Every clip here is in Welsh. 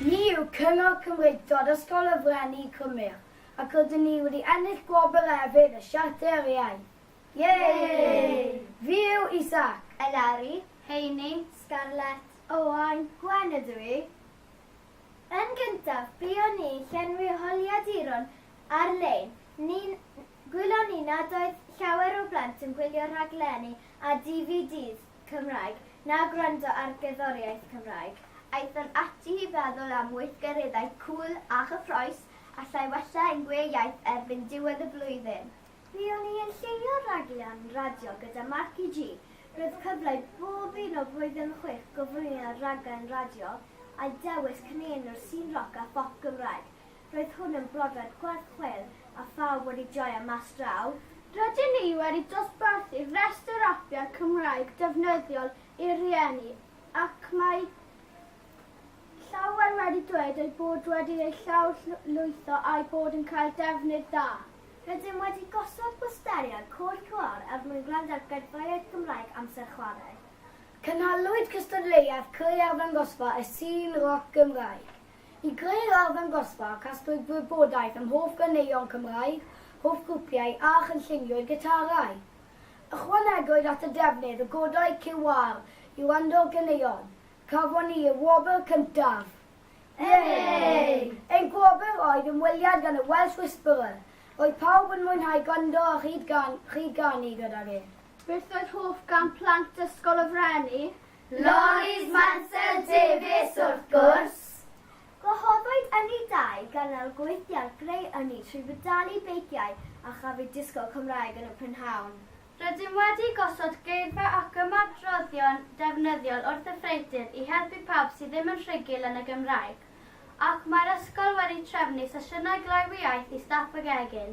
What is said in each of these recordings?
Ni yw Cyngor Cymreictod Ysgol y Frenni Cymru ac rydyn ni wedi ennill gwobr efydd y Siarter yr Iaith. Yay! Fi yw Isaac. Eleri, Heini, Scarlett, Owain, Gwen ydw i. Yn gyntaf, buon ni'n llenwi holiaduron ar-lein. Ni'n gwylio ni nad oedd llawer o blant yn gwylio rhaglenni a DVDs. Cymraeg, na gwrando ar gerddoriaeth Cymraeg. Aethon ati i feddwl am weithgareddau cŵl a chyffrous allai wella ein gwe iaith erbyn diwedd y flwyddyn. Fuon ni yn lliwio rhaglen radio gyda Marci G. Roedd cyfle i bob un o Blwyddyn Chwith gyflwyno rhaglen radio a dewis cynenw'r sîn roc a phop Gymraeg. Roedd hwn yn brofiad gwerth chweil a phawb wedi joio mas draw. Rydyn ni wedi dosbarthu rhestr apiau Cymraeg defnyddiol i'r rhieni ac mae llawer wedi dweud eu bod wedi eu llawrlwytho a'u bod yn cael defnydd dda. Rydym wedi gosod bwsteriau Côr QR er mwyn gwrando ar gerddoriaeth Gymraeg amser chwarae. Cynhaliwyd cystadleuaeth clei arddangosfa y sîn roc Gymraeg. I greu'r arddangosfa, casglwyd gwybodaeth am hoff ganeuon Cymraeg, hoff grwpiau a chynlluniwyd gitarau. Ychwanegwyd at y defnydd o godau QR i wrando'r ganeuon. Cafon ni y wobr cyntaf! Yay! Ein gwobr oedd ymweliad gan y Welsh Whisperer. Roedd pawb yn mwynhau gwrando a rhyd-ganu gydag e. Beth oedd hoff gân plant Ysgol y Frenni? Lorries Mansel Davies wrth gwrs! Gwahoddwyd ynni dau ganol gwynt iâr greu ynni trwy feddalu beiciau a chafwyd disgo Cymraeg yn y prynhawn. Rydym wedi gosod geirfa ac ymadroddion defnyddiol wrth y freidir i helpu pawb sydd ddim yn rhugl yn y Gymraeg ac mae'r ysgol wedi trefnu sesiynau glawioaeth i staff y gegin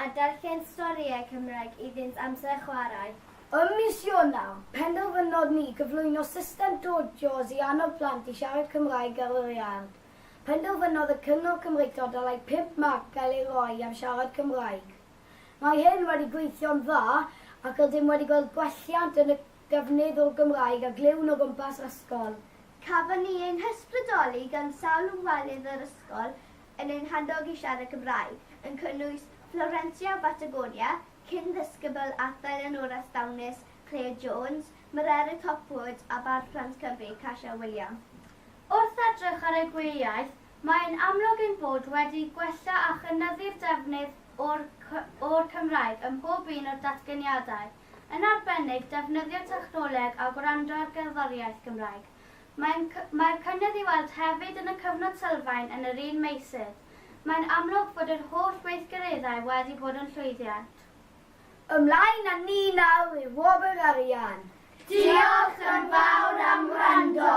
a darllen storïau Cymraeg iddynt amser chwarae. Ym mis Ionawr, penderfynodd ni gyflwyno system Dod Jaws i annog plant i siarad Cymraeg ar yr iard. Penderfynodd y Cyngor Cymreictod ddylai pump marc gael ei roi am siarad Cymraeg. Mae hyn wedi gweithio'n dda ac rydym wedi gweld gwelliant yn y defnydd o'r Gymraeg a glywn o gwmpas yr ysgol. Cafon ni ein hysbrydoli gan sawl o walydd yr ysgol yn ein handog i siarad Cymraeg, yn cynnwys Florencia o Batagonia, cyn-ddisgybl Arthur Eleanora Stawnus, Claire Jones, Mererid Hopwood a Bardd Plant Cymru, Kasia William. Wrth edrych ar y gwyliaeth, mae'n amlwg ein bod wedi gwella a chynyddu'r defnydd o'r o'r Cymraeg ym mhob un o'r datganiadau, yn arbennig defnyddio technoleg a gwrando ar gerddoriaeth Gymraeg. Mae'n Mae'r cynnydd i'w weld hefyd yn y cyfnod sylfaen yn yr un meysydd. Mae'n amlwg bod yr holl weithgareddau wedi bod yn llwyddiant. Ymlaen â ni nawr i wobr arian. Diolch yn fawr am wrando.